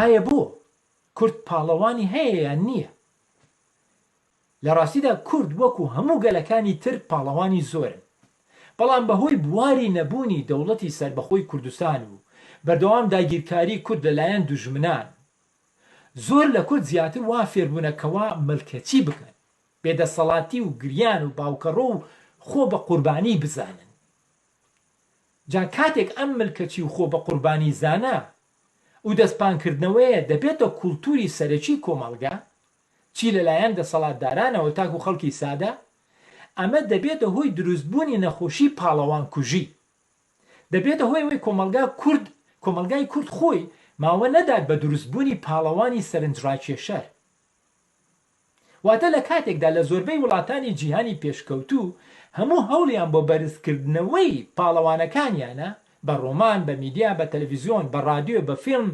ئایا بۆ کورد پاڵەوانی هەیە یان نییە؟ لە ڕاستیدا کورد وەکو هەموو گەلەکانی تر پاڵەوانی زۆرن، بەڵام بەهۆی بواری نەبوونی دەوڵەتی سەربەخۆی کوردستان و بەردەوام داگیرکاری کورد لەلایەن دوژمنان زۆر لە کورد زیاتر وا فێربونە کەوا ملکەچی بکەن بێ دەسەڵاتی و گریان و باوکەڕۆ و خۆ بە قوربانی بزانن جا کاتێک ئەم ملکەچی و خۆ بە قوربانی زانە و دەستپان کردنەوەیە دەبێتە کوڵتوری سەرەکی کۆمەڵگا چی لە لایەن دەسەڵاتدارانەوە تاکو خەڵکی سادە ئەمە دەبێتە هۆی دروست بونی نەخۆشی پاڵەوان کوژی دەبێتە هۆی ئەوەی کۆمەڵگا کورد کۆمەڵگای کورد خۆی ماوە نەدات بە دروست بوونی پاڵەوانی سەرنج ڕاکێشەر. واتە لە کاتێکدا لە زۆربەی وڵاتانی جیهانی پێشکەوتوو هەموو هەوڵیان بۆ بەرز کردنەوەی پاڵەوانەکانیانە بە ڕۆمان، بە میدیا، بە تەلەفیزیۆن، بە ڕادیۆ، بە فیلم،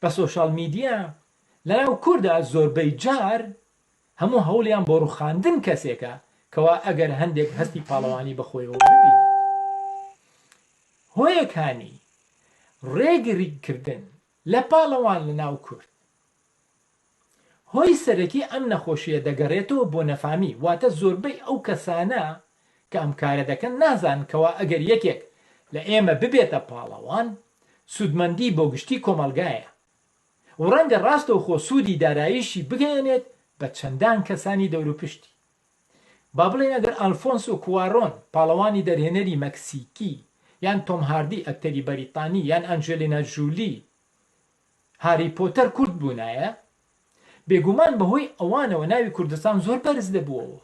بە سۆشیال میدیا، لە ناو کوردا زۆربەی جار، هەموو هەوڵیان بۆ ڕوخاندن کەسێکە کەوا ئەگەر هەندێک هەستی پاڵەوانی بەخۆیەوە ببینێت هۆیەکانی ڕێگریکردن لە پاڵەوان لە ناو کورد هۆی سەرەکی ئەم نەخۆشیە دەگەڕێتەوە بۆ نەفامی واتە زۆربەی ئەو کەسانە کە ئەم کارە دەکەن نازانن کەوا ئەگەر یەکێک لە ئێمە ببێتە پاڵەوان سودمەندی بۆ گشتی کۆمەڵگایە و ڕەنگە ڕاستەوخۆ سوودی داراییشی بگەیەنێت بە چەندان کەسانی دەوروپشتی. با بڵێین ئەگەر ئەلفۆنسۆ کوارۆن، پاڵەوانی دەرهێنەری مەکسیکی، یان تۆم هاردی، ئەکتەری بەریتانی، یان ئەنجێلینا جولی، هاری پۆتەر، کورد بوونایە، بێگومان بەهۆی ئەوانەوە ناوی کوردستان زۆر بەرز دەبووەوە.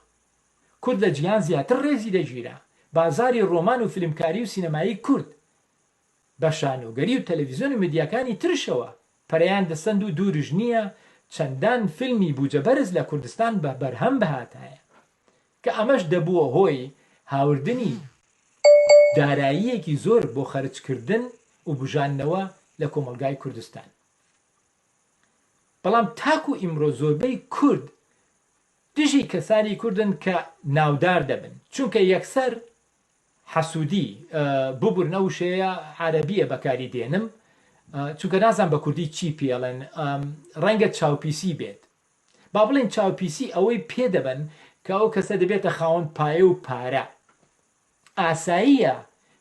کورد لە جیهان زیاتر ڕێزی دەگیرا. بازاڕی ڕۆمان و فیلمکاری و سینەمایی کورد بە شانۆگەری و تەلەڤیزیۆن و میدیاکانی ترشەوە پەرەیان دەسەند و دوورش نییە چەندان فیلمی بوجە بەرز لە کوردستان بە بەرهەم بهاتایە کە ئەمەش دەبووە هۆی هاوردنی داراییەکی زۆر بۆ خەرجکردن و بوژاندنەوە لە کۆمەڵگای کوردستان بەڵام تاکو ئیمڕۆ زۆربەی کورد دژی کەسانی کوردن کە ناودار دەبن چونکە یەکسەر حەسودی ببورن ئە وشەیە عەرەبیە بەکاری دێنم چونکە نازان بە کوردی چی پێڵێن ڕەنگە چاوپیسی بێت با بڵێن چاوپیسی ئەوەی پێدەبن کە ئەو کەسە دەبێتە خاوەن پایە و پارە ئاساییە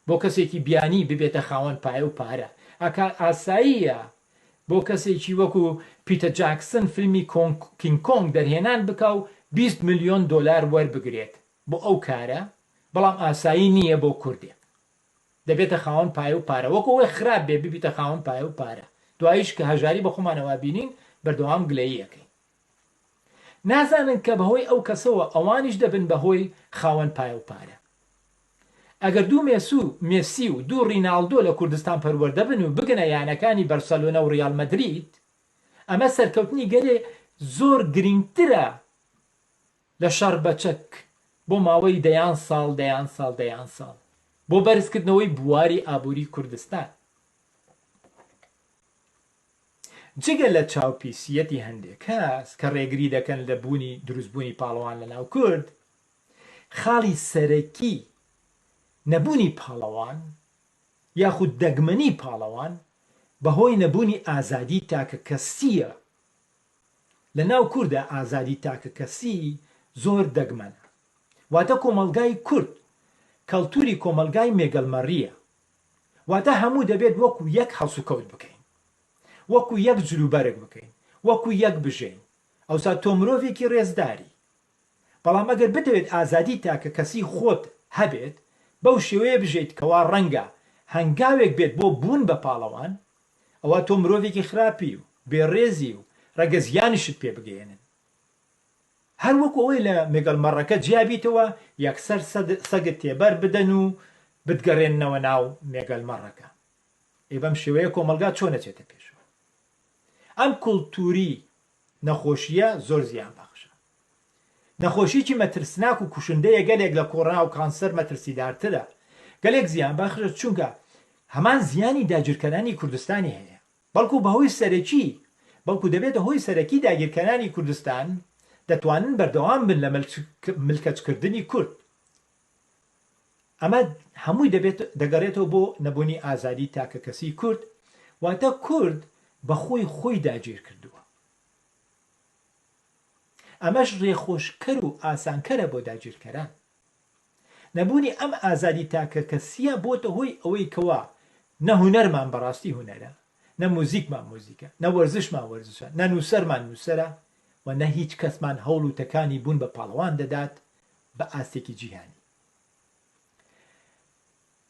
بۆ کەسێکی بیانی ببێتە خاوەن پایە و پارە ئەکا ئاساییە بۆ کەسێکی وەکو پیتە جاکسن فیلمی کینگ کۆنگ دەرهێنان بکە و 20 میلیۆن دلار وەربگرێت بۆ ئەو کارە بەڵام ئاسایی نییە بۆ کوردێک دەبێتە خاوەن پایە و پارە وەک ئەوەی خراپ بێ ببیتە خاوەن پایە و پارە دواییش کە هەژاری بە خۆمانەوا بینین بەردەوام گلەیی ئەکەین نازانن کە بەهۆی ئەو کەسەوە ئەوانیش دەبن بەهۆی خاوەن پایە و پارە ئەگەر دوو مێسو مێسی و دوو ڕیناڵدۆ لە کوردستان پەروەردە بن و بگەنە یانەکانی بەرسەلۆنە و ڕیاڵ مەدرید ئەمە سەرکەوتنی گەلێ زۆر گرینگترە لە شەڕ بە چەک بۆ ماوەی دەیان ساڵ دەیان ساڵ دەیان ساڵ بۆ بەرزکردنەوەی بواری ئابووری کوردستان جگە لە چاوپیسیەتی هەندێک کەس کە ڕێگری دەکەن لە بوونی دروستبوونی پاڵەوان لە ناو کورد خاڵی سەرەکی نەبوونی پاڵەوان یاخود دەگمەنی پاڵەوان بەهۆی نەبوونی ئازادی تاکە کەسییە لە ناو کوردا ئازادی تاکەکەسی زۆر دەگمەنە. واتە کۆمەڵگای کورد کەڵتوری کۆمەڵگای مێگەلمەڕییە. واتە هەموو دەبێت وەکو یەک هەڵسوکەوت بکەین. وەکو یەک جلوبەرگ بکەین. وەکو یەک بژێین. ئەوسا تۆ مرۆڤێکی رێزداری. بەڵام ئەگەر بتەوێت ئازادی تاکەکەسی خۆت هەبێت، بەو شێوەیە بژێیت کەوا رەنگە هەنگاوێک بێت بۆ بوون بە پاڵەوان، ئەوا تۆ مرۆڤێکی خراپی و بێ ڕێزی و ڕەنگە زیانیشت پێ بگەیەنن هەر وەکو ئەوەی لە مێگەڵ مەڕەکە جیا بیتەوە یەکسەر سەگت تێبەر بدەن و بتگەڕێننەوە ناو مێگەل مەڕەکە ئەی بەم شێوەیە کۆمەڵگا چۆن ئەچێتە پێشەوە ئەم کولتوری نەخۆشییە زۆر زیان بەخشە. نەخۆشیەکی مەترسناک و کوشندەیە گەلێک لە کۆڕۆنا و کانسەر مەترسیدارترە. گەلێک زیان بەخشە چونکە هەمان زیانی داگیرکەرانی کوردستانی هەیە. بەڵکو بەهۆی سەرەکی بەڵکو دەبێتە هۆی سەرەکی داگیرکەرانی کوردستان دەتوانن بەردەوام بن لە ملکەچکردنی کورد. ئەمە هەمووی دەبێت دەگەڕێتەوە بۆ نەبوونی ئازادی تاکەکەسی کورد، واتە کورد بە خۆی خۆی داگیر کردووە. ئەمەش ڕێخۆشکەر و ئاسانکەرە بۆ داگیرکەران. نەبوونی ئەم ئازادی تاکەکەسییە بۆتە هۆی ئەوەی کەوا نە هونەرمان بەڕاستی هونەرە، نە موزیکمان موزیکە، نە وەرزشمان وەرزشە، نە نووسەرمان نووسەرە و نە هیچ کەسمان هەوڵ و تەکانی بوون بە پاڵەوان دەدات، بە ئاستێکی جیهانی.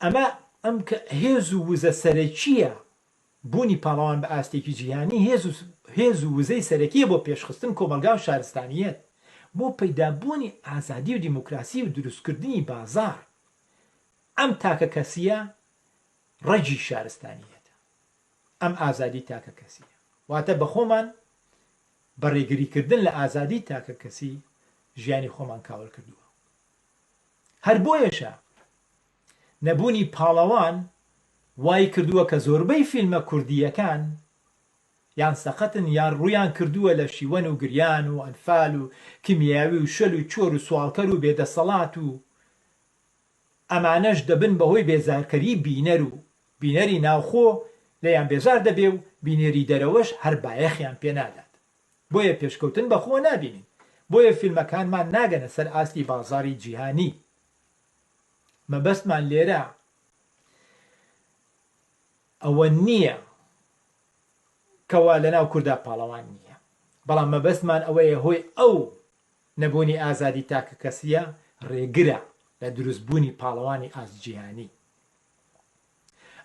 ئەمە ئەم کە هێز و وزە سەرەکییە بوونی پاڵەوان بە ئاستێکی جیهانی هێز و هێز و وزەی سەرەکیە بۆ پێشخستن کۆمەلگا و شارستانیەت بۆ پەیدابوونی ئازادی و دیموکراسی و دروستکردنی بازار ئەم تاکە کەسیە ڕەگی شارستانیەتە ئەم ئازادی تاکە کەسیە واتە بەخۆمان بە ڕێگری کردن لە ئازادی تاکە کەسی ژیانی خۆمان کاول کردووە هەر بۆیەشە نەبوونی پاڵەوان وای کردووە کە زۆربەی فیلمە کوردییەکان یان سەقەتن یان ڕوویان کردووە لە شیوەن و گریان و ئەنفال و کیمیاوی و شەل و چۆر و سواڵکەر و بێدەسەڵات و ئەمانەش دەبن بەهۆی بێزارکەری بینەر و بینەری ناوخۆ لێیان بێزار دەبێ و بینەری دەرەوەش هەر بایەخیان پێ نادات بۆیە پێشکەوتن بەخۆوە نابینین بۆیە فیلمەکانمان ناگەنە سەر ئاستی بازاری جیهانی مەبەستمان لێرە ئەوە نییە کەوا لەناو کوردا پاڵەوان نییە بەڵام مەبەستمان ئەوەیە هۆی ئەو نەبوونی ئازادی تاکەکەسییە ڕێگرە لە دروست بوونی پاڵەوانی ئاست جیهانی.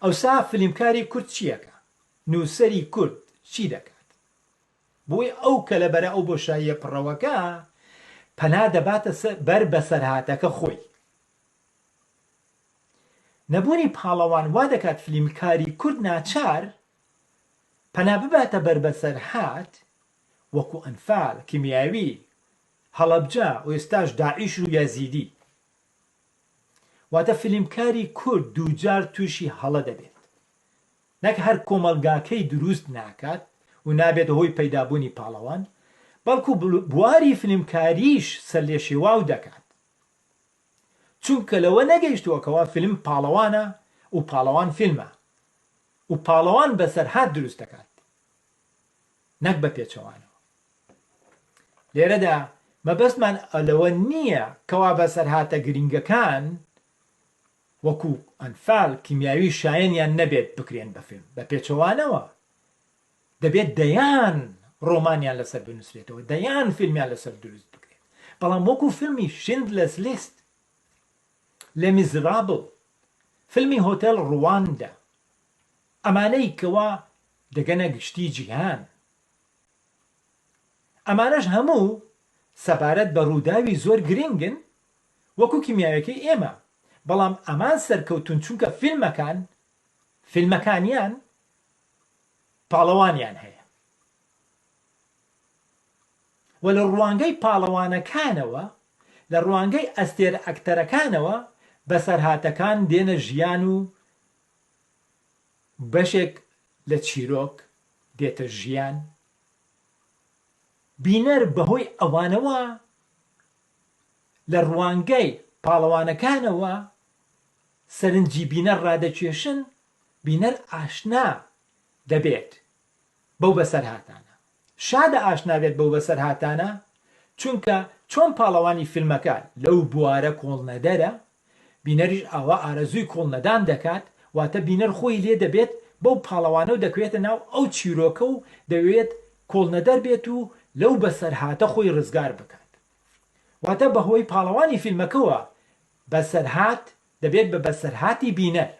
ئەوسا فلیمکاری کورد چییەکا؟ نووسەری کورد چی دەکات؟ بۆیە ئەو کەلە بەرە ئەو بۆشاییە پڕەوەکە پەنا دەباتە بەر بەسەرهاتەکە خۆی. نەبوونی پاڵەوان وا دەکات فلیمکاری کورد ناچار پەنا بباتە بەر بەسەرهات وەکو ئەنفال، کیمیاوی، هەڵەبجە و ئێستاش داعش و یەزیدی. واتە فیلمکاری کورد دووجار تووشی هەڵە دەبێت. نەک هەر کۆمەڵگاکەی درووست ناکات و نابێتە هۆی پەیدابوونی پاڵەوان، بەڵکو بواری فیلمکارییش سەرلێشێواو دەکات. چونکە لەوە نەگەیشتووە کەوا فیلم پاڵەوانە و پاڵەوان فیلمە و پاڵەوان بەسەرهات درووست دەکات. نەک بە پێچەوانەوە لێرەدا مەبەستمان لەوە نییە کەوا بەسەرهاتە گرنگەکان وەکو ئەنفال کیمیاوی شایەنیان نەبێت بکرێن بە فیلم بە پێچەوانەوە دەبێت دەیان ڕۆمانیان لەسەر بنووسرێتەوە دەیان فیلمیان لەسەر دروست بکرێت بەڵام وەکو فیلمی شند لەس لیست لە میزرابڵ فیلمی هۆتێل ڕواندا ئەمانەی کەوا دەگەنە گشتی جیهان. ئەمانەش هەموو سەبارەت بە رووداوی زۆر گرنگن وەکو کیمیاویەکەی ئێمە، بەڵام ئەمان سەرکەوتوون چونکە فیلمەکان، فیلمەکانیان، پاڵەوانیان هەیە و لە روانگەی پاڵەوانەکانەوە، لە روانگەی ئەستێرە ئەکتەرەکانەوە بەسەرهاتەکان دێنە ژیان و بەشێک لە چیرۆک دێتە ژیان و بینەر بەهۆی ئەوانەوە لە ڕوانگەی پاڵەوانەکانەوە سەرنجی بینەر ڕادەکێشن، بینەر ئاشنا دەبێت بەو بەسەرهاتانە. شادە ئاشنا بێت بەو بەسەرهاتانە، چونکە چۆن پاڵەوانی فیلمەکە لەو بوارە کۆڵنەدەرە، بینەریش ئاوا ئارەزووی کۆڵنەدان دەکات، واتە بینەر خۆی لێ دەبێت بەو پاڵەوانە و دەکەوێتە ناو ئەو چیرۆکە و دەوێت کۆڵنەدەر بێت و لەو بەسەرهاتە خۆی ڕزگار بکات. واتە بەهۆی پاڵەوانی فیلمەکەوە بەسەرهات دەبێت بە بەسەرهاتی بینەر.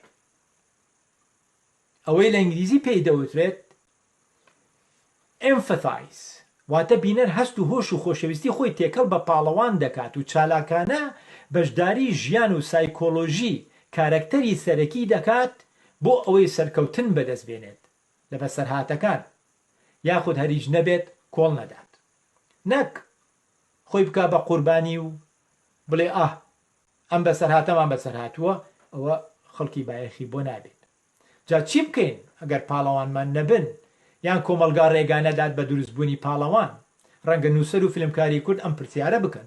ئەوەی لە ئینگلیزی پێی دەوترێت Empathize واتە بینەر هەست و هۆش و خۆشەویستی خۆی تێکەڵ بە پاڵەوان دەکات و چالاکانە بەشداری ژیان و سایکۆلۆژی کارەکتەری سەرەکی دەکات بۆ ئەوەی سەرکەوتن بەدەست بێنێت لە بەسەرهاتەکان یاخود هەر هیچ نەبێت کۆڵ نەدات نەک خۆی بکا بە قوربانی و بڵێ ئاه ئەم بەسەرهاتەمان بەسەرهاتووە ئەوە خەڵکی بایەخی بۆ نابێت جا چی بکەین ئەگەر پاڵەوانمان نەبن یان کۆمەڵگا ڕێگا نەدات بە دروستبوونی پاڵەوان ڕەنگە نووسەر و فیلمکاری کورد ئەم پرسیارە بکەن